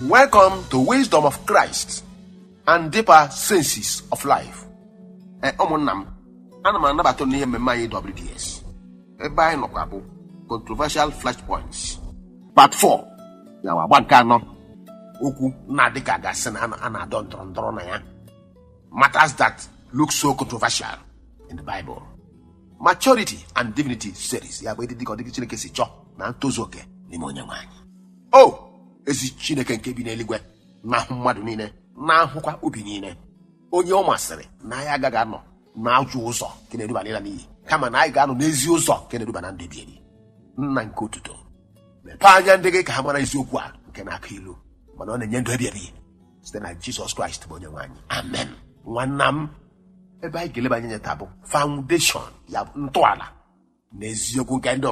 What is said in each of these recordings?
Welcome to Wisdom of Christ and Deeper Senses of Life. Ee, ụmụnna m ana m anabata n'ihe mmemme anyị WDS ebe anyị nọkwa bụ Controversial Flashpoints Part 4 ya bụ agba nke anọ okwu na-adị ka a ga-asị na a na-adọ ndọrọ ndọrọ na ya matters that look so controversial in the Bible. Maturity and Divinity Series ya bụ ịdị dịka ọdịdị Chineke si chọọ na ntozu oke n'ime onye nwe anyị. o ezi chineke nke bi n'eluigwe na-ahụ mmadụ niile na-ahụkwa obi niile onye ọ masịrị na anyị agaghị anọ n'ajọ ụzọ nke na-eduba n'ịla n'iyi kama na anyị ga-anọ n'ezi ụzọ nke na-eduba na ndụ ebighị ebi nna nke otuto mepee anya ndị gị ka ha mara eziokwu a nke na-akụ ilu mana ọ na-enye ndụ ebighị ebi site na jizọs kraịst bụ onye nwe anyị amen nwanna m ebe anyị ga-eleba anya taa bụ foundation ya bụ ntọala na eziokwu nke ndụ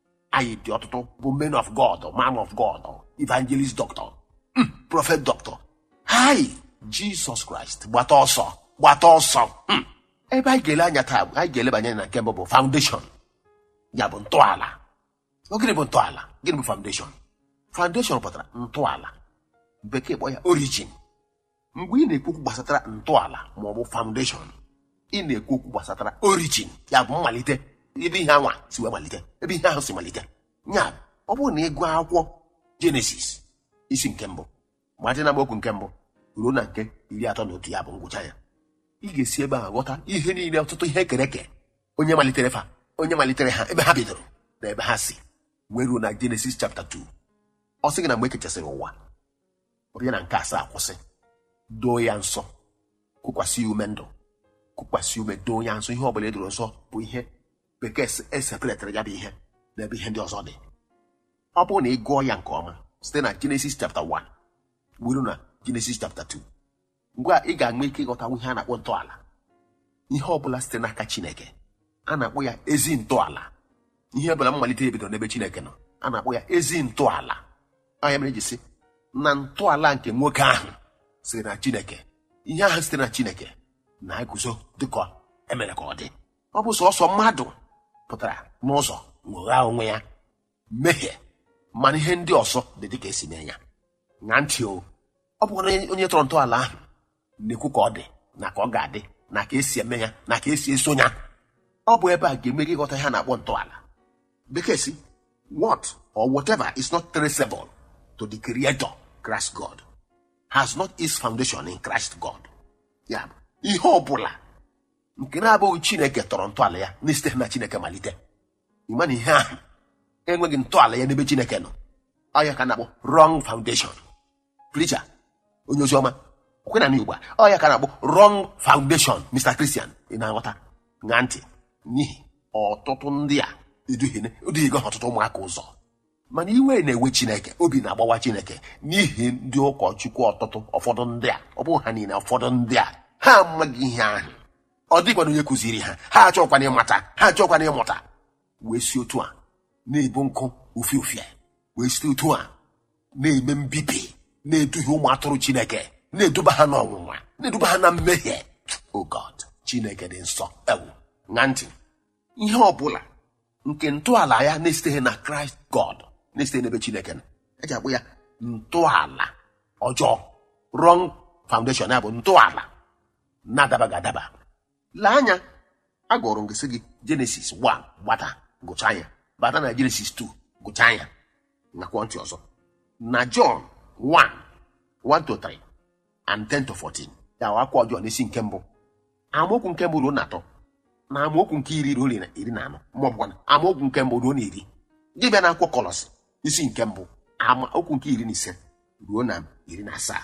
anyị dị ọtụtụ bụ men of god man of god evangelist doctor mm, prophet doctor hai jizọs kraịst gbata ọsọ gbata ọsọ mm. ebe anyị ga-ele anya taa bụ anyị ga-elebanye anya na nke mbụ bụ foundation ya bụ ntọala Ọ gịnị bụ ntọala gịnị bụ foundation foundation pụtara ntọala bekee kpọ ya origin mgbe ị na-ekwu okwu gbasatara ntọala ma ọ bụ foundation ị na-ekwu okwu gbasatara origin ya bụ mmalite ebe ihe anwa si wee malite ebe ihe ahụ si malite ya bụ, ọ bụrụ na ị gụọ akwụkwọ jenesis isi nke mbụ malite n'amaokwu nke mbụ ruo na nke iri atọ na otu ya bụ ngwụcha ya ị ga-esi ebe ahụ ghọta ihe niile ọtụtụ ihe e kere eke onye malitere fa onye malitere ha ebe ha bidoro na ebe ha si wee ruo na jenesis chapta 2 ọ sị gị na mgbe e kechasịrị ụwa ọ bịa na nke asaa kwụsị doo ya nsọ kukwasị ume ndụ kukwasị ume doo ya nsọ ihe ọbụla e doro nsọ bụ ihe bekee e separetara ya bụ ihe n'ebe ihe ndị ọzọ dị ọ bụrụ na ị gụọ ya nke ọma site na Genesis chapter 1 wee ruo na Genesis chapter 2 ugbu a ị ga-enwe ike ịghọtanwu ihe a na-akpọ ntọala ihe ọ bụla sitere n'aka chineke a na-akpọ ya ezi ntọala ihe ọ bụla mmalite ya bidoro n'ebe chineke nọ a na-akpọ ya ezi ntọala ọ nya mere e ji sị na ntọala nke nwoke ahụ sitere na chineke ihe ahụ site na chineke na-eguzo dịka e mere ka ọ dị ọ bụ sọsọ mmadụ pụtara n'ụzọ nwoghaa onwe ya mehie mana ihe ndị ọzọ dị dịka e si mee ya ṅaa ntị o ọ bụkwa na onye- onye tọrọ ntọala ahụ na-ekwu ka ọ dị na ka ọ ga-adị na ka e si eme ya na ka e si eso ya ọ bụ ebe a ga-eme gị ịghọta ihe a na-akpọ ntọala bekee sị what or whatever is not traceable to the creator Christ God has not its foundation in Christ God ya bụ ihe ọ bụla nke na-abụghị Chineke tọrọ ntọala ya na-esiteghị na Chineke malite ị ma na ihe ahụ enweghị ntọala ya n'ebe chineke nọ ọ ya ka a na-akpọ wrong foundation preacher onye ozi ọma ọkwa na n'igbo ọ ya ka a na-akpọ wrong foundation mr christian ị na-aghọta ṅaa ntị n'ihi ọtụtụ ndị a eduhigo ha ọtụtụ ụmụaka ụzọ mana iwe na-ewe chineke obi na-agbawa chineke n'ihi ndị ụkọchukwu ọtụtụ ụfọdụ ndị a ọ bụghị ha niile ụfọdụ ndị a ha amaghị ihe ahụ ọ dịkwana onye kụziri ha ha achọkwana ịmata ha achọkwana ịmụta wee si otu a na-ebu nkụ ufie ufie wee si otu a na-eme mbibi na-eduhie ụmụ atụrụ chineke na-eduba ha n'ọnwụnwa na-eduba ha na mmehie oh god chineke dị nsọ ewo ṅaa ntị ihe ọ bụla nke ntọala ya na-esiteghị na kraịst god na-esiteghị n'ebe chineke nọ e ji akpọ ya ntọala ọjọọ wrong foundation ya bụ ntọala na-adabaghị adaba lee anya agụọrọ m gị sị gị genesis 1 gbata gụcha ya bata na genesis 2 gụcha ya ṅaakwa ntị ọzọ na john 1 1 to 3 and 10 to 14 ya wụ akwụkwọ jọn isi nke mbụ amaokwu nke mbụ ruo na atọ na amaokwu nke iri ruo na iri na anọ ma ọ bụkwa na amaokwu nke mbụ ruo na iri gị bịa na akwụkwọ kọlọsị isi nke mbụ amaokwu nke iri na ise ruo na iri na asaa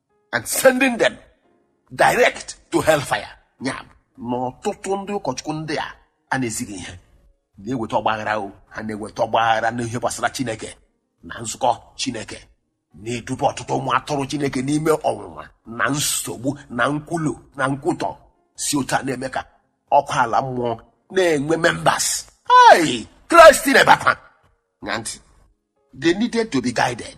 and sending them direct to hellfire ya bụ na ọtụtụ ndị ụkọchukwu ndị a a na-ezighị ihe na-eweta ọgbaghara o ha na-eweta ọgbaghara n'ihe gbasara chineke na nzukọ chineke na-eduba ọtụtụ ụmụ atụrụ chineke n'ime ọnwụnwa na nsogbu na nkwulu na nkwutọ si otu a na-eme ka ọkụ ala mmụọ na-enwe members hei kraịst na-ebe akwa ṅaa ntị they needed to be guided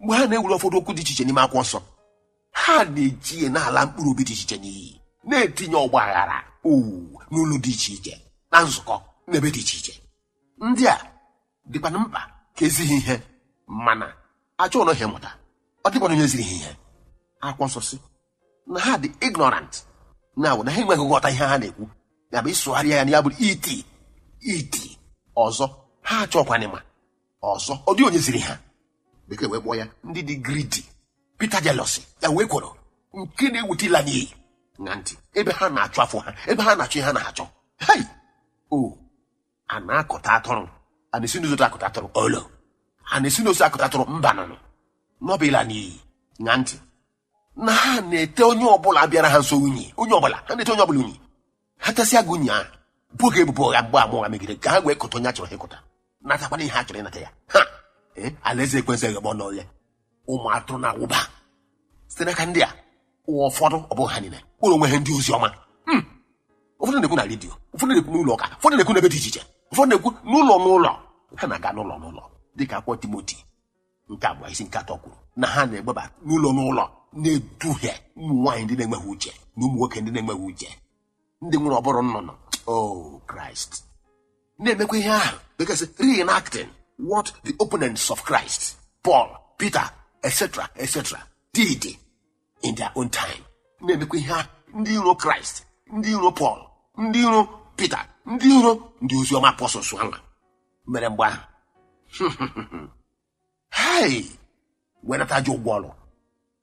mgbe ha na-ewere ụfọdụ okwu dị iche iche n'ime akwụkwọ nsọ ha na-eji ya na-ala mkpụrụ obi dị iche iche n'iyi na-etinye ọgba aghara owu n'ụlọ dị iche iche na nzukọ n'ebe dị iche iche ndị a dịkwana mkpa ka e zi ha ihe mana achọghị ha ịmụta ọ dịkwana onye ziri ha ihe akwụkwọ nsọ sị na ha dị ignorant na na ha enweghị nghọta ihe ha na-ekwu ya bụ ịsụgharịa ya na ya bụrụ iti iti ọzọ ha achọkwana ịma ọzọ ọ dị onye ziri ha bekee wee kpọọ ya ndị dị greedy bitter jealousy ya wụ ekworo nke na-eweta ịla n'iyi ṅaa ntị ebe ha na-achụ afọ ha ebe ha na-achụ ihe ha na-achọ hei o a na-akọta atụrụ a na-esi n'ụzọ akọta atụrụ olo a na-esi n'ụzọ akọta atụrụ mba nụnụ na ọ bụ ịla n'iyi ṅaa ntị na ha na-ete onye ọbụla bịara ha nso unyi onye ọbụla ha na-ete onye ọbụla unyi ha tesịa gị unyi ahụ bo gị ebubo ụgha gbaa ama ụgha megide ka ha wee kụta onye a chọrọ ha ịkụta natakwana ihe ha chọrọ ịnata ya ha ee alaeze ekwensu eghebe ọnụ oghe ụmụ atụrụ na-awụba site n'aka ndị a ụwa ụfọdụ ọ bụghị ha niile kpọrọ onwe ha ndị ozi ọma Hmm. ụfọdụ na-ekwu na redio ụfọdụ na-ekwu n'ụlọ ụka ụfọdụ na-ekwu n'ebe dị iche iche ụfọdụ na-ekwu n'ụlọ n'ụlọ ha na-aga n'ụlọ n'ụlọ dịka akwụkwọ timoti nke abụọ isi nke atọ kwuru na ha na-egbeba n'ụlọ n'ụlọ na-eduhie ụmụ nwaanyị ndị na-enweghị uche na ụmụ nwoke ndị na-enweghị uche ndị nwere ụbụrụ nnụnụ o kraịst na-emekwa ihe ahụ bekee sị reenacting what the opponents of christ paul peter etc etc did in their own time na-emekwa ihe ahụ ndị iro kraịst ndị iro pọl ndị iro pita ndị iro ndị ozi ọma apọstọls anwa mere mgbe ahụ hei wee nata ajọ ụgwọ ọrụ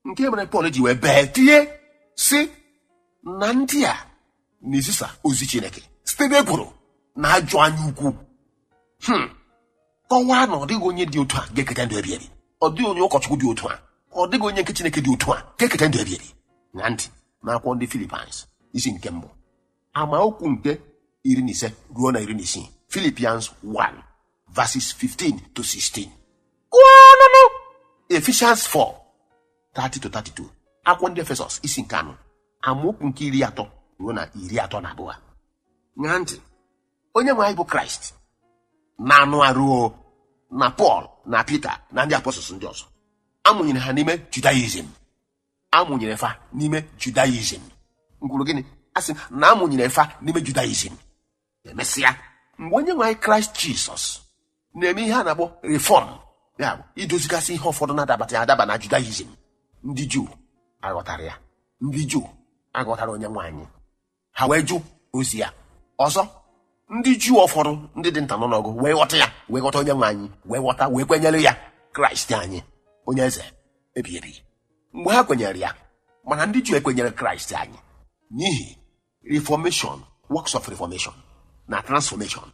nke mere pọl ji wee bee tie sị na ndị a na-ezisa ozi chineke site n'ekworo na ajọ anya ukwu Hmm. kọwaa na ọ dịghị onye dị otu a ga-eketa ndụ ebi ebi ọ dịghị onye ụkọchukwu dị otu a ọ dịghị onye nke chineke dị otu a ga-eketa ndụ ebi ebi ṅaa ntị n'akwụkwọ ndị filipians isi nke mbụ amaokwu nke iri na ise ruo na iri na isii filipians 1 verses 15 to 16 gụọnụnụ efishans 4 30 to 32 akwụkwọ ndị efesọs isi nke anọ amaokwu nke iri atọ ruo na iri atọ na abụọ ṅaa ntị onye nwe anyị bụ kraịst n'anụ arụ na pọl na pita na ndị apọstọls ndị ọzọ a mụnyere ha n'ime judaism a mụnyere fa n'ime judaism m kwuru gịnị a sị na a mụnyere fa n'ime judaism emesịa mgbe onye nwe anyị kraịst jizọs na-eme ihe a na-akpọ reform ya bụ idozigasị ihe ụfọdụ na-adabaghị adaba na judaism ndị juu aghọtara ya ndị juu aghọtara onye nwe anyị ha wee jụ ozi ya ọzọ ndị juu ụfọdụ ndị dị nta n'ọnụọgụ wee ghọta ya wee ghọta onye nwe anyị wee ghọta wee kwenyere ya kraịst anyị onye eze ebighị ebi mgbe ha kwenyere ya mana ndị juu ekwenyere kraịst anyị n'ihi reformation works of reformation na transformation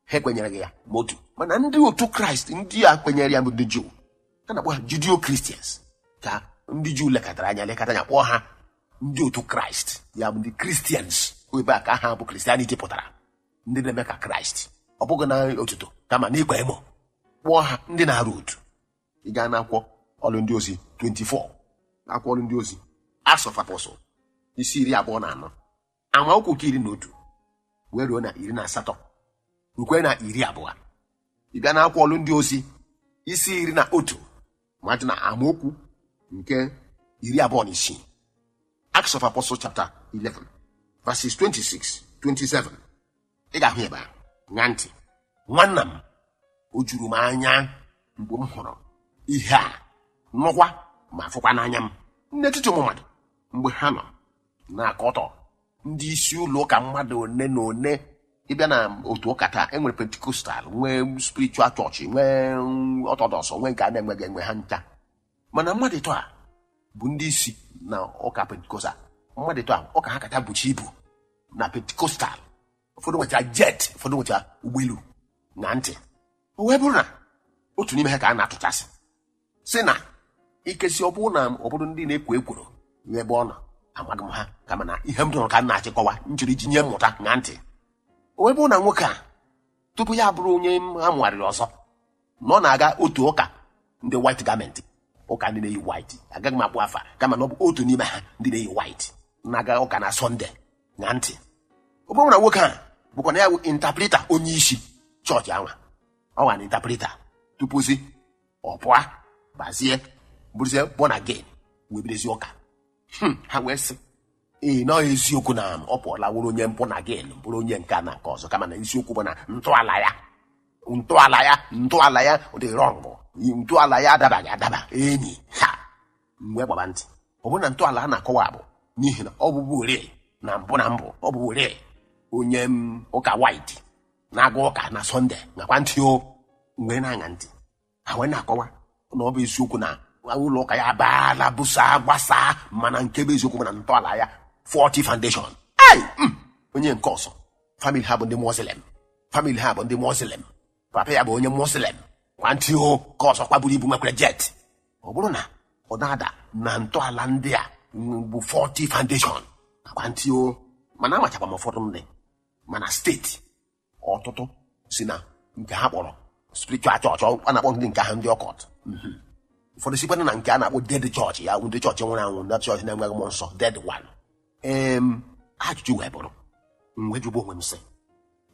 ha ekwenyereghị ya ma otu mana ndị otu kraịst ndị a kwenyere ya bụ ndị juu a na-akpọ ha judio kristians ka ndị juu lekọtara anya lekọta anya kpọọ ha ndị otu kraịst ya bụ ndị kristians ebe a ka aha bụ kristianity pụtara ndị na-eme ka kraịst ọ bụghị n'otuto kama n'ịkwa emo kpọọ ha ndị na-arọ otu ị gaa n'akwụkwọ ọlụ ndị ozi 24 akwụkwọ ọlụ ndị ozi Acts of Apostles isi iri abụọ na anọ amaokwu nke iri na otu wee ruo na iri na asatọ rukwe na iri abụọ ị bịa n'akwụkwọ ọlụ ndị ozi isi iri na otu ma dị na amaokwu nke iri abụọ na isii Acts of Apostles chapter 11 verses 26 27 ị ga-ahụ ebe a ṅa ntị nwanna m o juru m anya mgbe m hụrụ ihe a nụkwa ma fụkwa n'anya m n'etiti ụmụ mmadụ mgbe ha nọ na-akọtọ ndị isi ụlọ ụka mmadụ one na one ị bịa na otu ụka taa e nwere pentikostal nwee spiritual church nwee orthodox nwee nke a na-enweghị enwe ha ncha mana mmadụ ịtọ a bụ ndị isi na ụka pentikostal mmadụ ịtọ a ụka ha kacha buchi ibu na pentikostal ụfọdụ nwecha jet ụfọdụ nwecha ụgbọelu ṅa ntị o wee bụrụ na otu n'ime ha ka a na-atụchasị si na ikesi ọ bụrụ na obodo ndị na-ekwo ekworo nye ebe ọ nọ amaghị m ha kama na ihe m nụrụ ka m na-achịkọwa m jiri ji nye mmụta ṅa ntị o wee bụrụ na nwoke a tupu ya abụrụ onye a mụgharịrị ọzọ na ọ na-aga otu ụka ndị white garment ụka ndị na-eyi white agaghị m akpọ afa kama na ọ bụ otu n'ime ha ndị na-eyi white na-aga ụka na sọnde ṅa ntị ọ bụrụ na nwoke a bụkwa na ya bụ interpreter onye isi chọọchị anwa ọ nwa na interpreter tupuzi ọ pụọ bazie bụrụzie born again wee bidezi ụka Hmm, ha wee sị ee na eziokwu na ọ pụọla wụrụ onye born again bụrụ onye nke a na nke ọzọ kama na isiokwu bụ na ntọala ya ntọala ya ntọala ya dị wrong ntọala ya adabaghị adaba enyi ha m wee gbaba ntị ọ bụrụ na ntọala a na-akọwa bụ n'ihi na ọ bụburii na mbụ na mbụ ọ bụburii onye ụka white na-aga ụka na sọnde ṅakwa ntị o m wee na-aṅa ntị ha wee na-akọwa na ọ bụ eziokwu na ụlọ ụka ya abaala busaa gbasaa mana nke bụ eziokwu bụ na ntọala ya faulty foundation hai mm, onye nke ọzọ famili ha bụ ndị muslim famili ha bụ ndị muslim papa ya bụ onye muslim ṅakwa ntị o nke ọzọkwa buru ibu nwekwara jet ọ bụrụ na ọ na-ada na ntọala ndị a mm, bụ faulty foundation ṅakwa ntị o mana amachakwa m ụfọdụ ndị mana steeti ọtụtụ si na nke ha kpọrọ spiritual church a na-akpọ ndị nke ahụ ndị occult Mhm. ụfọdụ sikwana na nke a na-akpọ dead church ya ndị chọọchị nwụrụ anwụ ndị chọọchị na-enweghị mmụọ nsọ dead one em ajụjụ wee bụrụ m wee jụba onwe m sị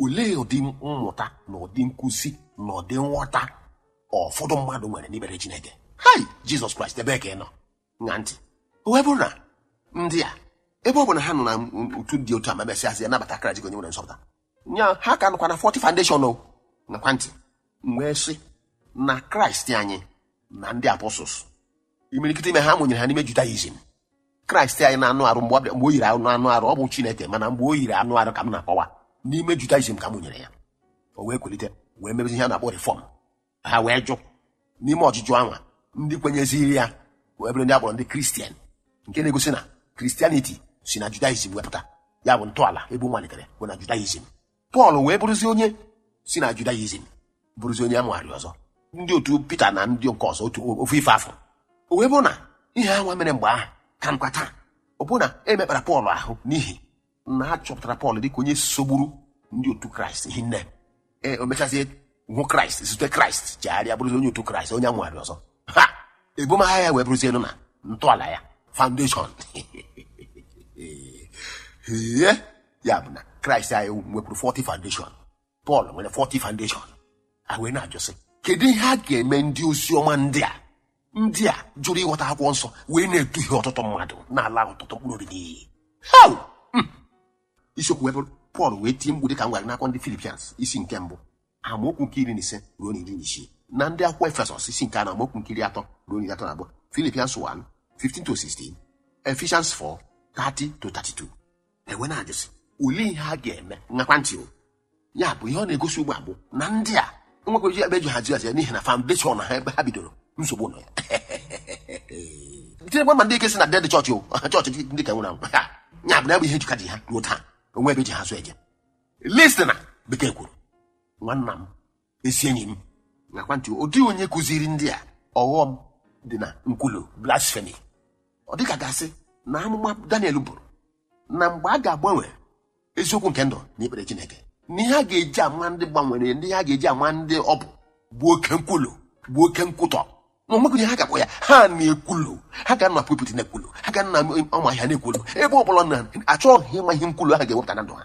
olee ụdị mmụta na ụdị nkụzi na ụdị nghọta ụfọdụ mmadụ nwere n'ebere Chineke hai Jizọs Kraịst ebee ka ị nọ ṅa ntị o wee bụrụ na ndị a ebe ọ bụ na ha nọ na otu dị otu a ma mesịazịa nabata Kraịst ka onye nwere nzọpụta ya ha ka nọkwa na faulty foundation o ṅakwa ntị m wee sị na Kraịst anyị na ndị apostles imirikiti ime ha mụnyere ha n'ime judaism kraịst anyị n'anụ arụ mgbe o yiri anụ arụ ọ bụ chineke mana mgbe o yiri anụ arụ ka m na-akọwa n'ime judaism ka a mụnyere ya o wee kwelite wee mebezi ihe a na-akpọ reform ha wee jụ n'ime ọjụjụ anwa ndị kwenyeziri ya wee bụrụ ndị a kpọrọ ndị kristian nke na-egosi na kristianiti si na judaism wee pụta ya bụ ntọala ebe ọ malitere bụ na judaism pọl wee bụrụzi onye si na judaism bụrụzi onye amụgharị ọzọ ndị otu pita na ndị nke ọzọ ofu ife afụ o wee bụrụ na ihe anwa mere mgbe ahụ ka nọkwa taa ọ bụrụ na e mekpara pọl ahụ n'ihi na a chọpụtara pọl dịka onye sogburu ndị otu kraịst hinne o mechazie hụ kraịst zute kraịst chegharịa bụrụzi onye otu kraịst onye amụgharị ọzọ ha ebumagha ya wee bụrụzienụ na ntọala ya foundation ihe ya bụ na kraịst anyị nwekwuru faulty foundation pọl nwere faulty foundation a wee na-ajụsị kedu ihe a ga-eme ndị ozi ọma ndị a ndị a jụrụ ịghọta akwụkwọ nsọ wee na-eduhie ọtụtụ mmadụ na-ala ọtụtụ mkpụrụ obi n'iyi Hau! Hmm. isiokwu wee bụrụ pọl wee tie mkpu dịka m gwara n'akwụkwọ ndị philippians isi nke mbụ amaokwu nke iri na ise ruo na iri na isii na ndị akwụkwọ efesọs isi nke anọ amaokwu nke iri atọ ruo na iri atọ na abụọ philippians 1 15 to 16 ephesians 4 30 to 32 a wee na-ajụsị olee ihe a ga-eme ṅakwa ntị o ya bụ ihe ọ na-egosi ugbu a bụ na ndị a nwekwaji ebe e ji hazi n'ihi na foundation ha ebe ha bidoro nsogbu nọ ya tinyekwa ma ndị nke si na dead church o chọọchị ndị ka nwụrụ anwụ Ha, ya bụ na ya bụ ihe e ji ka ji ha ruo taa o nwe ebe e ji ha zụ eje listen bekee kwuru nwanna m ezi enyi m ṅakwa ntị ọ dịghị onye kụziri ndị a ọghọm dị na nkwulu blasphemy ọ dịka a ga-asị na amụma daniel buru na mgbe a ga-agbanwe eziokwu nke ndụ na ikpere chineke na ihe a ga-eji ama ndị gbanwere ndị ihe a ga-eji ama ndị ọ bụ bụ oke nkwulu bụ oke nkwutọ na o nwekwa onye ha ga-akpọ ya ha na-ekwulu ha gaa na pulpit na-ekwulu ha gaa na ọma ahịa na-ekwulu ebe ọ bụla na achọghị ịma ihe nkwulu ha ga-ewepụta na ndụ ha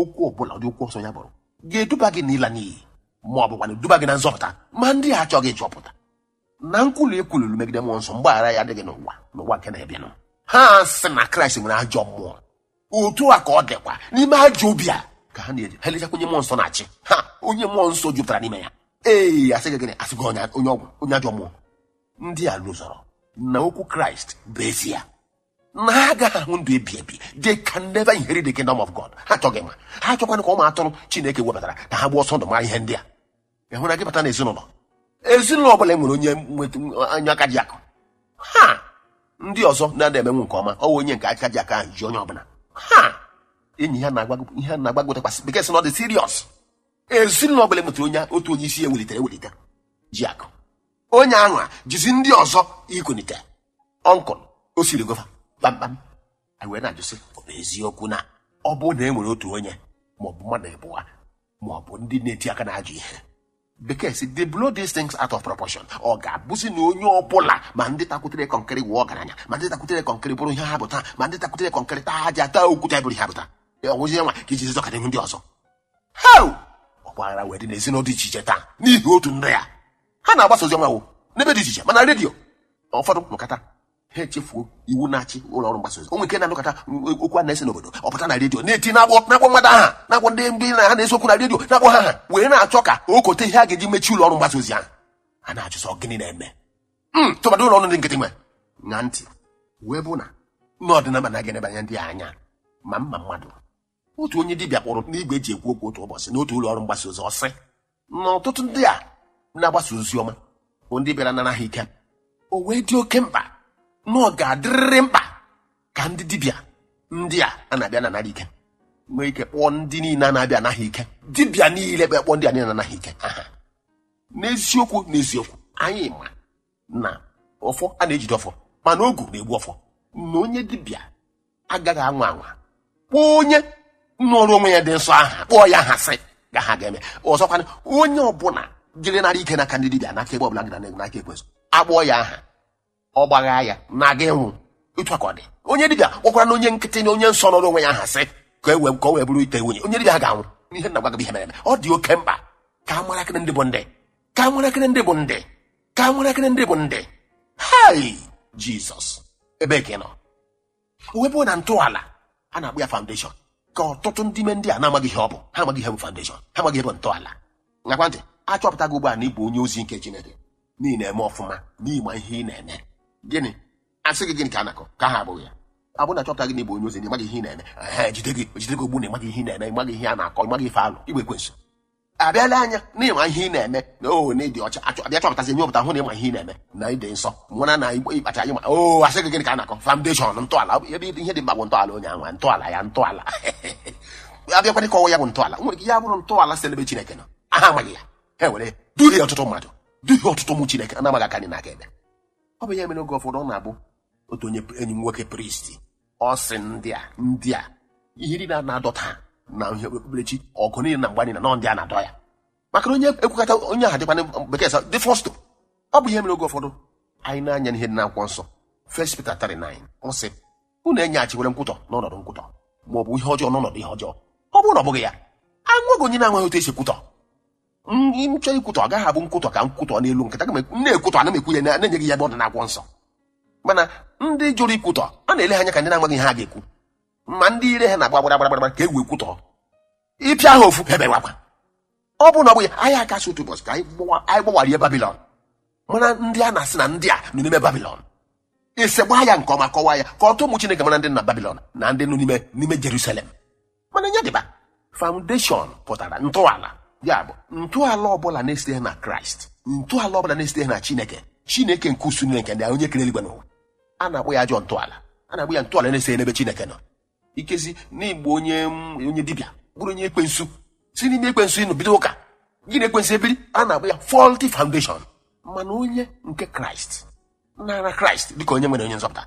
okwu ọbụla ụdị okwu ọ sọ ya bụrụ ga-eduba gị n'ịla n'iyi ma ọ bụkwa na-eduba gị na nzọpụta ma ndị a achọghị ịchọpụta na nkwulu e kwuluru megide mmụọ nsọ mgbaghara ya adịghị n'ụwa n'ụwa nke na-abịanụ ha sị na kraịst nwere ajọ mmụọ otu a ka ọ dịkwa n'ime ajọ obi a ka ha na-eji ha elechakwa onye mmụọ nsọ na-achị ha onye mmụọ nsọ jupụtara n'ime ya ee a sị gị gịnị a sị gị onye ọgwụ onye ajọ mmụọ ndị a lozọrọ na okwu kraịst bụ ezie na ha agaghị ahụ ndụ ebi ebi they can never inherit the kingdom of God ha achọghị ịma ha achọkwana ka ụmụ atụrụ Chineke webatara ka ha gbaa ọsọ ndụ mara ihe ndị a ị hụra gị bata n'ezinụlọ ezinụlọ ọbụla e nwere onye onye aka ji akụ ha ndị ọzọ na-ada emenwu nke ọma ọwa onye nke aka ji akụ ahụ ji onye ọbụla ha enyi ha na-agwa ihe na-agbagwotakwasị bekee sị na ọ dị serious ezinụlọ ọbụla e nwetara onye otu onye isi e welitere ewelite ji akụ onye ahụ a jizi ndị ọzọ ikunite ọnkụl o siri gova kpamkpam anyị wee na-ajụ sị ọ bụ eziokwu na ọ bụrụ na e nwere otu onye maọbụ mmadụ abụọ maọbụ ndị na-eti aka n'ajọ ihe bekee sị they blow these things out of proportion ọ ga-abụzi na onye ọbụla ma ndị takwutere kọnkịrị wụọ ọgaranya ma ndị takwutere kọnkịrị bụrụ ihe ha bụ taa ma ndị takwutere kọnkịrị taa aja taa okwute bụrụ ihe ha bụ taa ọ bụzi ya nwa ka e ji zọkara ihu ndị ọzọ hei ọgbaghara wee dị n'ezinụlọ dị iche iche taa n'ihi otu ndị a ha na-agbasa ozi ọma ahụ n'ebe dị iche iche mana redio ụfọdụ nụkata ha echefuo iwu na-achị ụlọ ọrụ mgbasa ozi o nwe nke na-anụkata okwu a na-ese n'obodo ọ pụta na redio na-eti na-akpọ na-akpọ mmadụ aha na-akpọ ndị ndị na ha na-ese okwu na redio na-akpọ ha aha wee na-achọ ka o kote ihe a ga-eji mechie ụlọ ọrụ mgbasa ozi ahụ a na-ajụ sị ọ gịnị na-eme m tụmadụ ụlọ ọrụ ndị nkịtị nwe na ntị wee bụ na n'ọdịnaba na-aga enebanye ndị a anya ma mma mmadụ otu onye dibịa kpọrọ n'igwe e ji ekwu okwu otu ụbọchị n'otu ụlọ ọrụ mgbasa ozi ọ sị na ọtụtụ ndị a na-agbasa ozi ọma bụ ndị bịara nara ha ike o wee dị oke mkpa na ọ ga-adịrịrị mkpa ka ndị dibịa ndị a a na-abịa na-anara ike nwee ike kpọọ ndị niile a na-abịa ana ha ike dibịa niile bịa kpọọ ndị a niile na-ana ha ike aha n'eziokwu n'eziokwu anyị ma na ọfọ a na-ejide ọfọ mana ogu na-egbu ọfọ na onye dibịa agaghị anwa anwa kpọọ onye nọrọ onwe ya dị nsọ aha kpọọ ya aha sị ga ha ga-eme ọzọkwana onye ọbụla jere nara ike n'aka ndị dibịa n'aka ebe ọbụla gị na n'aka ekwensu a kpọọ ya aha ọ gbagha ya na ọ ga-anwụ otu a ka ọ dị onye dibịa kpọkwara na onye nkịtị na onye nsọ nọrọ onwe ya aha sị ka e wee ka o wee bụrụ ite nwunye onye dibịa ahụ ga-anwụ ihe m na-agwa gị bụ ihe mere eme ọ dị oke mkpa ka a mara akịrị ndị bụ ndị ka a mara akịrị ndị bụ ndị ka a mara akịrị ndị bụ ndị hai jizọs ebe ka ị nọ o wee bụ na ntọala a na-akpọ ya foundation ka ọtụtụ ndị ime ndị a na-amaghị ihe ọ bụ ha amaghị ihe bụ foundation ha amaghị ihe bụ ntọala ṅakwa ntị a chọpụtago ugbu a na ị bụ onye ozi nke chineke na ị na-eme ọfụma na ị ma ihe ị na-eme gịnị asị gị gịnị ka a na-akọ ka ha abụghị ya ọ bụrụ na a chọpụta gị na ị bụ onye ozi na ị maghị ihe ị na-eme ehe jide gị jide gị ogbu na ị maghị ihe ị na-eme ị maghị ihe a na-akọ ị maghị ife alụ igbe ekwensu abịala anya na ị ma ihe ị na-eme na o na ị dị ọcha a chọ a bịa chọpụtazi ihe ọpụta hụ na ị ma ihe ị na-eme na ị dị nsọ mara na igbe ịkpacha anya ma o asị gị gịnị ka a na-akọ foundation ntọala ebe ihe dị mkpa bụ ntọala onye anwa ntọala ya ntọala abịakwana ịkọwa ya bụ ntọala nwere ike ya bụrụ ntọala si n'ebe chineke nọ ha amaghị ya ha were duhie ọtụtụ mmadụ duhie ọtụtụ ụmụ chineke na-amaghị aka nri na aka ekpe ọ bụ ya mere oge ụfọdụ ọ na-abụ otu onye enyi m nwoke priest ọ sị ndị a ndị a ihe niile a na-adọ taa n'ihe okpukperechi ọgụ niile na mgba niile na ndị a na-adọ ya maka na onye ekwukata onye ahụ dịkwana bekee sị dị fọstụ ọ bụ ihe mere oge ụfọdụ anyị nee anya n'ihe dị n'akwụkwọ nsọ First Peter 3:9 ọ sị unu enyeghachikwala nkwutọ n'ọnọdụ nkwutọ ma ọ bụ ihe ọjọọ n'ọnọdụ ihe ọjọọ ọ bụrụ na ọ bụghị ya enweghị onye na-amaghị otu e si ekwutọ ndị m chọọ ikwutọ ọ gaghị abụ nkwutọ ka nkwutọ n'elu nkịta aga m ekwu- m na-ekwutọ ana m ekwu ya na- na-enye gị ya ebe ọ dị n'akwụkwọ nsọ mana ndị jụrụ ikwutọ a na-ele ha anya ka ndị na-amaghị ihe ha ga-ekwu ma ndị ire ha na-agba gbara gbara gbara ka e wee kwutọ ịpịa ha ofu ha ebewakwa ọ bụrụ na ọ bụghị anyị akasị otu ụbọchị ka anyị gbawa- anyị gbawarie babilọn mara ndị a na-asị na ndị a nọ n'ime babilọn ese gbaa ya nke ọma kọwaa ya ka ọtụ ụmụ chineke mara ndị nọ na babilọn na ndị nọ n'ime n'ime jerusalem mana nye dịba foundation pụtara ntọala ya bụ ntọala ọbụla na-esiteghị na kraịst ntọala ọbụla na-esiteghị na chineke chineke nke usuu niile nke ndị agha onye kere eluigwe na ụwa a na-akpọ ya ajọ ntọala a na-akpọ ya ntọala na-esiteghị n'ebe chineke nọ ikezi n'igbo onye onye dibịa bụrụ onye ekwensu si n'ime ekwensu nọ bido ụka gị na ekwensu ebiri a na-akpọ ya faulty foundation mana onye nke kraịst nara kraịst dịka onye nwere onye nzọpụta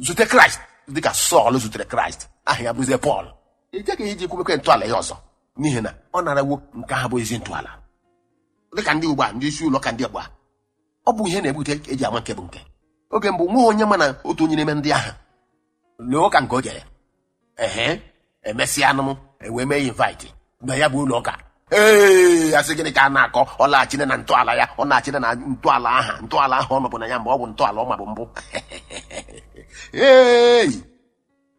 zute kraịst dịka sọl zutere kraịst aha ya bụrụzie pọl e jeghị iji kwubekwe ntọala ya ọzọ n'ihi na ọ narawo nke aha bụ ezi ntọala dịka ndị ugbu a ndị isi ụlọ ụka ndị ugbu a ọ bụ ihe na-ebute e ji ama nke bụ nke oge mbụ nweghị onye ma na otu onye n'ime ndị ahụ n'ụka nke o jere ehe emesịanụ m ewee mee ya invite na ya bụ ụlọ ụka ee asị gịnị ka a na-akọ ọ laghachina na ntọala ya ọ naghachina na ntọala aha ntọala aha ọ nọbu na ya mgbe ọ bụ ntọala ọ mabu mbụ ee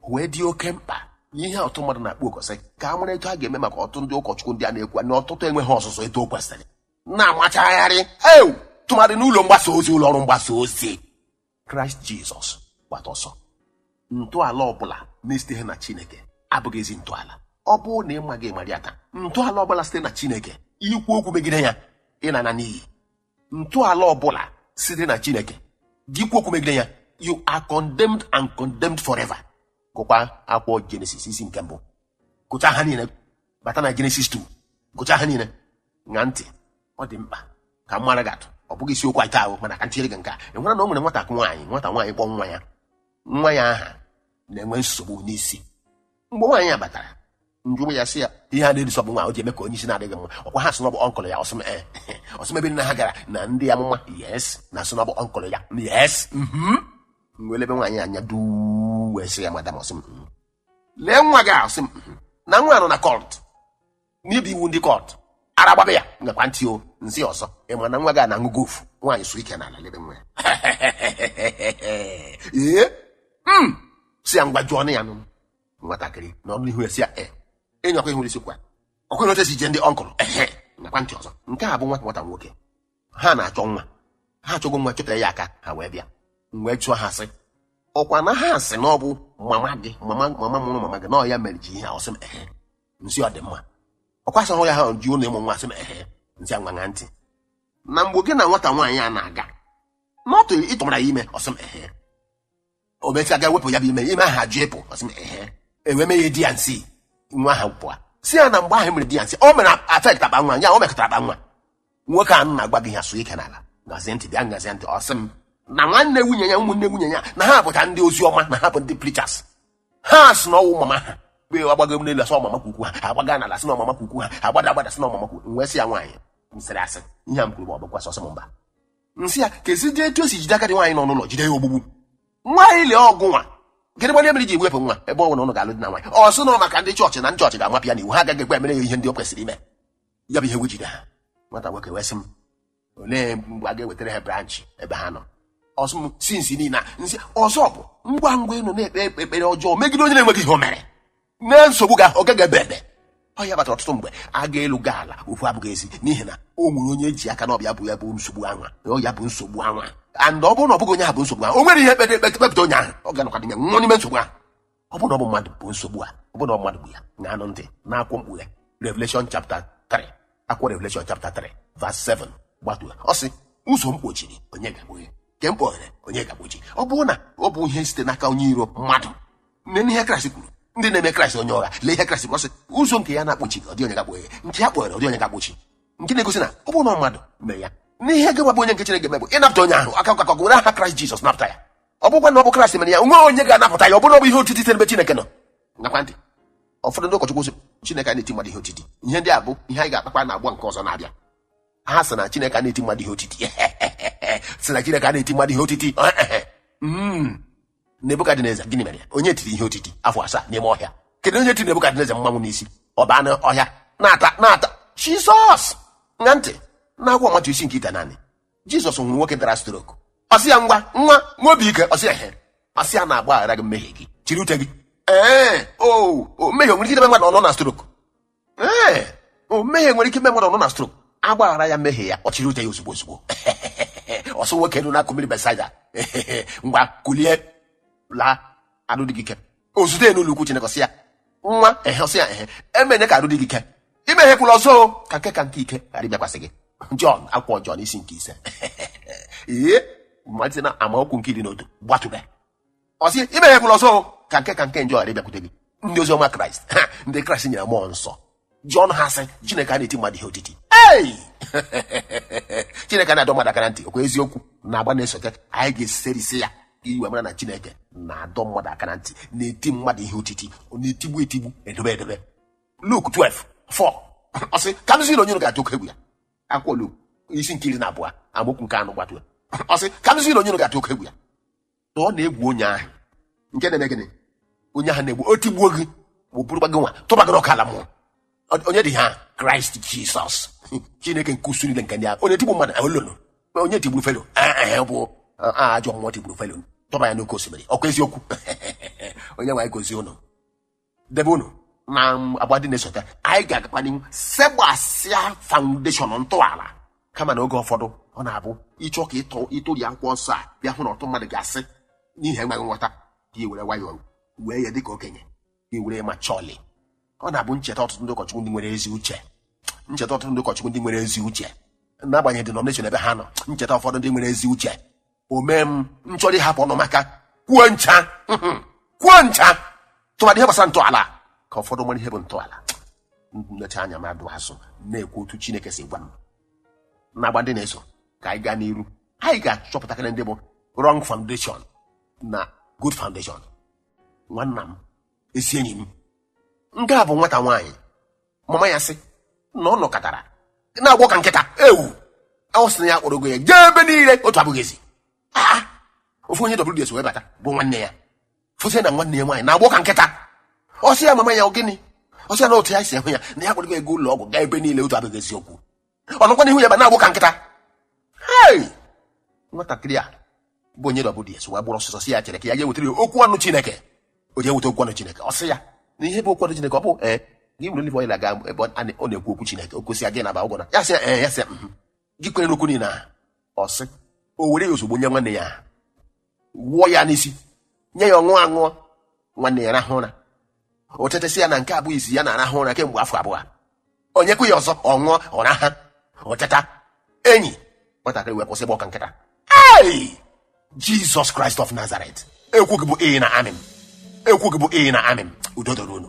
wee dị oke mkpa ihe ọtụ mmadụ na-akpọ oku sị ka a mara etu a ga-eme maka ọtụ ndị ụkọchukwu ndị a na-ekwu na ọtụtụ enweghị ọzụzụ etu o kwesịrị na-amachagharị ewu tụmadị n'ụlọ mgbasa ozi ụlọ ọrụ mgbasa ozi kraịst jizọs gbata ọsọ ntọala ọbụla na-esiteghị na chineke abụghị ezi ntọala ọ bụrụ na ị maghị mara ya taa ntọala ọbụla site na chineke i kwuo okwu megide ya ị na-ana n'iyi ntọala ọbụla site na chineke gị kwuo okwu megide ya you are condemned and condemned forever gụkwa akwụkwọ jenesis isi nke mbụ gụchaa ha niile bata na Genesis 2 gụchaa ha niile ṅaa ntị ọ dị mkpa ka m mara gị atụ ọ bụghị isiokwu anyị taa o mana ka m tinyere gị nke a ị nwere na o nwere nwata nwaanyị nwata nwaanyị kpọ nwa ya nwa ya aha na-enwe nsogbu n'isi mgbe nwaanyị a batara m jụrụ ya sị ya ihe a na-erusọ bụ nwa o ji eme ka onye isi na-adịghị mma ọkwa ha sị na ọ bụ ọnkụlụ ya ọ sị m ee ọ sị m ebe nna ha gara na ndị amụma yes na-asị na ọ bụ ọnkụlụ ya yes mhm. m wee lebe nwaanyị anya duu wee sị ya madam ọ sị m "Mm." lee nwa gị a sị m na nwa a nọ na cult mebie iwu ndị cult ara agbaba ya ṅakwa ntị o m sị ọzọ ị ma na nwa gị a na-aṅụ gofu nwaanyị suo ike n'ala lebe nwa ya ee m sị ya ngwa jụọnụ ya nụ nwatakịrị nọ n'ihu sị ya e ịnyakwa ihu isi kwa ọkwa ihe otu e si eje ndị ọnkụlụ ehe ṅakwa ntị ọzọ nke a bụ nwa nwata nwoke ha na-achọ nwa ha achọgo nwa chọtara ya aka ha wee bịa m wee jụọ ha sị ọkwa na ha sị na ọ bụ mama gị mama mama mụrụ mama gị na ọ ya mere gị ihe a ọ sị m ehe m sị ọ dị mma ọkwa sị hụ ya ha ji ụnụ ịmụ nwa sị m ehe m sị ngwa ṅaa ntị na mgbe gị na nwata nwaanyị a na-aga na ọ tụrụ ị tụmara ya ime ọ sị m ehe o mecha ga wepụ ya bụ ime ime ahụ ajụ ịpụ ọ sị m ehe e wee mee ya D and C nwa ahụ pụọ si ya na mgbe ahụ e mere D and C o mere affect akpa nwa ya o mekọtara akpa nwa nwoke a na-agwa gị ya sụọ ike n'ala gazie ntị bịa gazie ntị ọ sị m na nwanne nwunye ya ụmụnne nwunye ya na ha bụcha ndị ozi ọma na ha bụ ndị preachers ha sị na ọ wụ mama ha mgbe a gbagoo n'elu a sị ọ mama kwukwu ha agbaga n'ala sị na ọ mama kwukwu ha agbada agbada sị na ọ mama kwukwu m wee sị ya nwaanyị m sịrị asị ihe a m kwuru ma ọ bụkwa asị ọ sị m mba m sị ya kezi dị etu o si jide agadi nwaanyị nọ n'ụlọ jide ya ogbugbu nwaanyị lee ọ gị nwa gịnị gbanye mere i ji ewepụ nwa ebe ọ bụ na ụnụ ga-alụ di na nwaanyị ọ sị na ọ maka ndị chọọchị na ndị chọọchị ga-amapụ ya n'iwu ha agaghị ekwe e mere ya ihe ndị o kwesịrị ime ya bụ ihe wee jide ha nwata nwoke wee sị m olee mgbe a ga-ewetara ha branch ebe ha nọ ọ sị m since niile a m sị ọzọ bụ ngwa ngwa ị nọ na-ekpe ekpere ọjọọ megide onye na-enweghị ihe o mere na nsogbu gị a ọ gaghị ebe ebe ọ ya kpatara ọtụtụ mgbe a gaa elu gaa ala okwu abụghị ezi n'ihi na o nwere onye ji aka na ọ bụ ya bụ ya bụ nsogbu anwa na ọ ya bụ nsogbu anwa and ọ bụrụ na ọ bụghị onye ahụ bụ nsogbu ahụ o nwere ihe kpere ekpe kpepụta onye ahụ ọ ga-anọkwa dị na ya nwụọ n'ime nsogbu ahụ ọ bụrụ na ọ bụ mmadụ bụ nsogbu a ọ bụrụ na ọ mmadụ bụ ya ṅaanụ ntị n'akwụkwọ mkpughe Revelation chapter 3 akwụkwọ Revelation chapter 3 verse 7 gbatuo ọ sị ụzọ m kpochiri onye ga-akpọghe nke m kpọghere onye ga-akpọchi ọ bụrụ na ọ bụ ihe site n'aka onye iro mmadụ neenụ ihe kraịst kwuru ndị na-eme kraịst onye ụgha lee ihe kraịst kwuru ọ sị ụzọ nke ya na-akpọchi ọ dị onye ga-akpọghe nke ya kpọghere ọ dị onye ga-akpọchi nke na-egosi na ọ bụrụ na mmadụ mee ya n'ihe ga-agbabụ onye nke chineke eme bụ ịnapụta onye ahụ aka akụkọ were aha kraịst jizọs napụta ya ọ bụkwa na ọ bụ kraịst mere ya o nwe onye ga-anapụta ya ọ bụrụ na ọ bụ ihe otiti n'ebe chineke nọ ṅakwa ntị ụfọdụ ndị ụkọchukwu sị chineke a na-eti mmadụ ihe otiti ihe ndị a bụ ihe anyị ga-akpakwa na agba nke ọzọ na-abịa ha sị na chineke a na-eti mmadụ ihe otiti sị na chineke a na-eti mmadụ ihe otiti Mm. nebukadneza gịnị mere ya onye tiri ihe otiti afọ asaa n'ime ọhịa kedu onye tiri nebukadneza mmanwụ n'isi ọ baa n'ọhịa na-ata na-ata jizọs ṅaa ntị n'akwụkwọ matiu isi nke itenaanị jizọs o nwere nwoke dara stroke ọ sị ya ngwa nwa nwee obi ike ọ sị ya he ọ sị ya na a gbaghara gị mmehie gị chịrị ute gị ee o o mmehie o nwere ike idebe mmadụ ọ nọ na stroke ee o mmehie nwere ike ime mmadụ nọ na stroke a gbaghara ya mmehie ya ọ chịrị ute ya ozugbo ozugbo ọ sị nwoke nọ n'akụkụ mmiri betsaida ngwa kulie laa arụ dị gị ike o zute ya n'ụlọ ukwu chineke ọ sị ya nwa ehe ọ sị ya ehe e meene ka arụ dị gị ike imehiekwula ọzọ o, ka nke ka nke ike ghara ịbịakwasị gị jọn akwụkwọ jọn isi nke ise ee malite na amaokwu nke iri na otu gbatube ọ sị emehiekwala ọzọ o, ka nke ka nke njọ ghara ịbịakwute gị ndị ozi ọma kraịst ha ndị kraịst nyere mmụọ nsọ ji ọnụ ha sị chineke a na-eti mmadụ ihe otiti ei chineke na-adọ mmadụ aka na ntị ọkwa eziokwu n'agba na-esote anyị ga-eserisi ya i wee mara na chineke na-adọ mmadụ aka na ntị na-eti mmadụ ihe otiti ọ na-etigbu etigbu edobe edobe luk 12 4 ọ sị ka m zi unu onye unu ga-atụ oke egwu ya akwụkwọ isi nke iri na abụọ amaokwu nke anọ gbatuo ọ sị ka m zi unu onye unu ga-atụ oke egwu ya na ọ na-egwu onye ahụ nke na-eme gịnị onye ahụ na-egbu o tigbuo gị burukwa gị nwa tụba gị n'ọkụ ala mmụọ Ọ- onye dị ha kraịst jizọs chineke nke usuu niile nke ndị agha onye tigbu mmadụ ahụ lolo onye tigburu felo ee bụ ajọ mmụọ tigburu felo tụba ya n'oke osimiri ọkwa eziokwu onye nwe anyị gozie ụnụ debe unu n'agba dị na-esote anyị ga-agakwa n'ihu segbasịa foundation ntọala kama na oge ụfọdụ ọ na-abụ ị chọọ ka ịtọ ịtụri akwụkwọ nsọ a bịa hụ na otu mmadụ ga-asị n'ihi enweghị nghọta ka i were nwayọọ wee ya dịka okenye ka i were ma chọọlị ọ na-abụ m cheta ọtụtụ ndị ụkọchukwu ndị nwere ezi uche m cheta ọtụtụ ndị ụkọchukwu ndị nwere ezi uche n'agbanyeghị denomination ebe ha nọ m cheta ụfọdụ ndị nwere ezi uche o mee m chọrọ ịhapụ ọnụ m aka kwuo ncha kwuo ncha tụmadị ihe gbasara ntọala ka ụfọdụ mara ihe bụ ntọala m lechaa anya m adọ azụ na-ekwu otu chineke si gwa m n'agba ndị na-eso ka anyị gaa n'iru anyị ga-achọpụtakarị ndị bụ wrong foundation na good foundation nwanna m ezi enyi m nke a bụ nwata nwaanyị mama ya sị na ọ nọkatara na-agbọ ka nkịta ewu ọ sị na ya akpọrọgo ya jee ebe niile otu abụghị ezi Ah! ofu onye WDS wee bata bụ nwanne ya fụzie na nwanne ya nwaanyị na-agbọ ka nkịta ọ sị ya mama ya ọ gịnị ọ sị ya na otu ya si ahụ ya na ya akpọrọgo ya gaa ụlọ ọgwụ gaa ebe niile otu abụghị eziokwu ọ nọkwa n'ihu ya ebe na-agbọ ka nkịta hei nwatakịrị a bụ onye WDS wee gbara ọsọsọ sị ya chere ka ya gaa wetara ya okwu ọnụ chineke o jee weta okwu ọnụ chineke ọ sị ya na ihe bụ okwu ọnụ chineke ọ bụ ee gị were olive oil aga ebe ọ na- ọ na-ekwu okwu chineke o gọzie ya gị na ba ụgwọ na ya sị ya ee ya sị ya mhm. gị kwere n'okwu niile ahụ ọ sị o were ya ozugbo nye nwanne ya ahụ. wụọ ya n'isi nye ya ọ ṅụọ aṅụọ nwanne ya rahụ ụra o teta sị ya na nke a bụ izizi ya na-arahụ ụra kemgbe afọ abụọ o nyekwa ya ọzọ ọ ṅụọ ọ raha o teta enyi nwatakịrị wee kwụsị ịgbọ ka nkịta ei jesus christ of nazareth okwu gị bụ ee na amen okwu gị bụ ee na amen udo dịrị unu